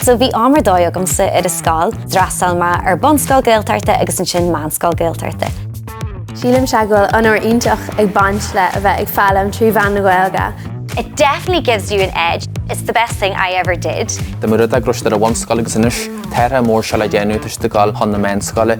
So bhí am ar dóigh agamsa ar an scoil, d'fhreastail mé ar bunscoil Gaeltachta agus ansin meánscoil Gaeltachta. Sílimse go bhfuil onóir iontach ag baint le a bheith ag foghlaim trí mheán na Gaeilge. It definitely gives you an edge, it's the best thing I ever did. Tá mé ró-eagraithe as an bhunscoil agus anois, tá rogha mhór seo le déanamh toisc go bhfuil mé ag dul chun na meánscoile.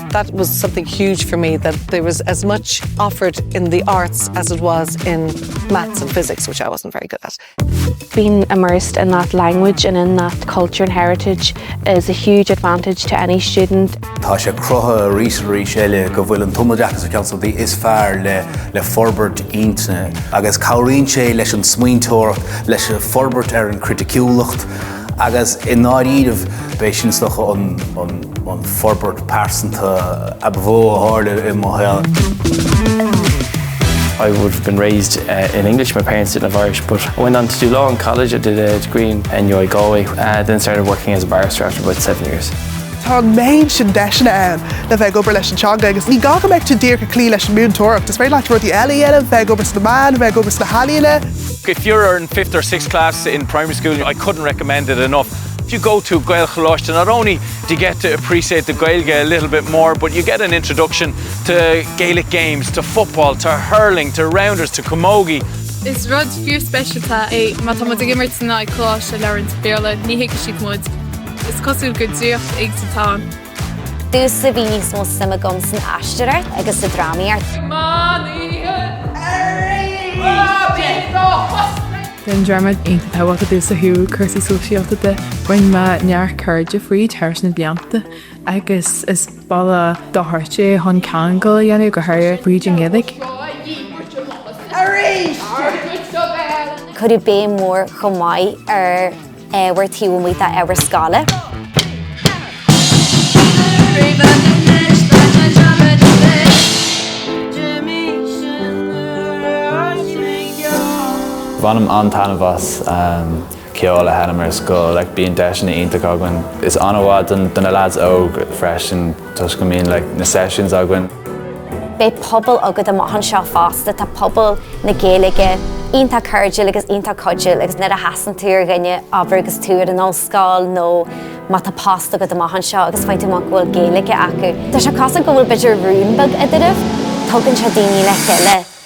That was something huge for me that there was as much offered in the arts as it was in maths and physics, which I wasn't very good at. Being immersed in that language and in that culture and heritage is a huge advantage to any student. Tá sé cruthaithe arís is arís eile go bhfuil an tumoideachas ar cheann de na rudaí is fearr le forbairt intinne agus cabhraíonn sé leis an smaointeoireacht, leis an forbairt ar an chriticiúlacht agus i ndáiríreamh b'é sin is dócha an an forbairt pearsanta ba mhó a tharla i mo shaol. I would have been raised in English, my parents didn't have Irish, but I went on to do law in college, I did a degree in NUI Galway, then started working as a barrister after about seven years. Tá an méid sin deiseanna ann le bheith ag obair leis an teanga agus ní gá go mbeidh tú díreach ag cloí leis an múinteoireacht, is féidir leat rudaí eile a dhéanamh, bheith ag obair sna meáin, bheith ag obair sna healaíona. If you're in fifth or sixth class in primary school, I couldn't recommend it enough. If you go to Gaelcholáiste not only do you get to appreciate the Gaeilge a little bit more but you get an introduction to Gaelic games, to football, to hurling, to rounders, to camogie. Is rud fíorspeisialta é má tá muid ag imirt in aghaidh coláiste a labhraíonn Béarla, ní thuigfidh siad muid. Is cosúil gur draíocht éigin atá ann. Domhsa bhí níos mó suim agam san aisteoireacht agus sa drámaíocht. Bhí an dráma iontach tábhachtach domhsa ó thaobh cúrsaí sóisialta de. Rinne mé neart cairde fríd thar na blianta agus is bealach dochreidte é chun ceangal a dhéanamh, go háirithe fríd an nGaeilge. Cuireadh béim mhór chomh maith ar. ábhar taobh amuigh d'ábhar scoile. Bainim an-taitneamh as ceol a sheinm ar scoil, like bíonn deiseanna iontacha againn. Tá sé an-mhaith do na leaids óga freisin. Toisc go mbíonn like na sessions againn. Beidh pobal agat amach anseo fosta, tá pobal na Gaeilge iontach cairdiúil agus iontach cuidiúil agus nuair a chasann tú ar dhuine ag obair agus tú ar an ollscoil nó má tá post agat amach anseo agus faigheann tú amach go bhfuil Gaeilge acu, tá sé cosúil go bhfuil b'fhéidir rún beag eadraibh, tugann sé daoine le chéile.